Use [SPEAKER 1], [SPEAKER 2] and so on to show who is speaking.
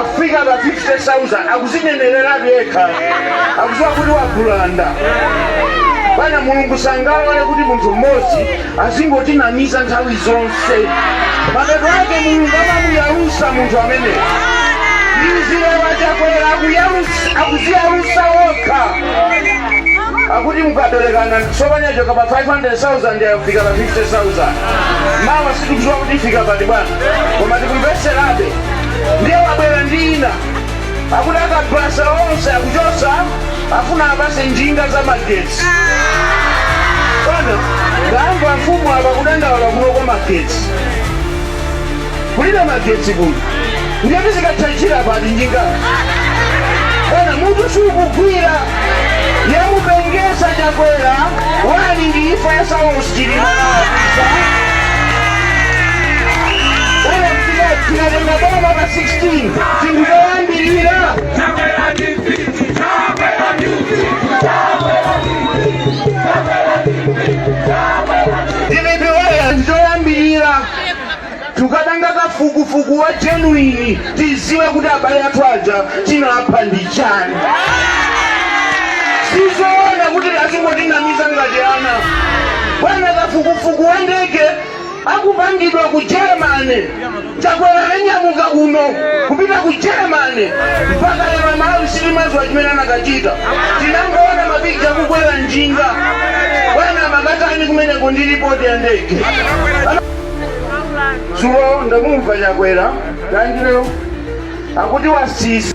[SPEAKER 1] afika pa 50000 akuzinenereratu yekha akuziwa kuti wagulanda bwana mulungu sangalole kuti munthu mmodzi azingotinamiza nthawi zonse mapeto ake mulungu amamuyalusa munthu ameneyo izi lero chakwera akuyalu- akuziyalusa wokha akuti mukaberenga tsopano yachoka pa 500,000 yafika pa 50,000 mawa sitikudziwa kuti ifika pati bwana koma tikumvetserabe ndiye wabwera ndi ina akuti akabaza onse akuchotsa afuna apase njinga za magetsi bwana ndamva amfumu apa kudandaula kunoko magetsi kulibe magetsi kuno ndiye tizikatchajira pati njinga bwana mutu siukugwira yamupengesa chakwera bwana ndi imfa ya saulos chilima nawapisa bwana tikatenga boma pa 16 chinthu choyambirira tukapanga kafukufuku wa genuine tiziwe kuti abale athu aja chinapha ndi chani sizoona kuti azingotinamiza ngati ana bwana kafukufuku wa ndege ukupangidwa ku germany chakwera ananyamuka kuno kupita ku germany mpaka lero malawi sitimadziwa chimene anakachita tinangoona mabigi akukwera njinga bwana makatani kumeneko ndi ripoti ya ndege dzulo ndamumva chakwera lazaro akuti wasisi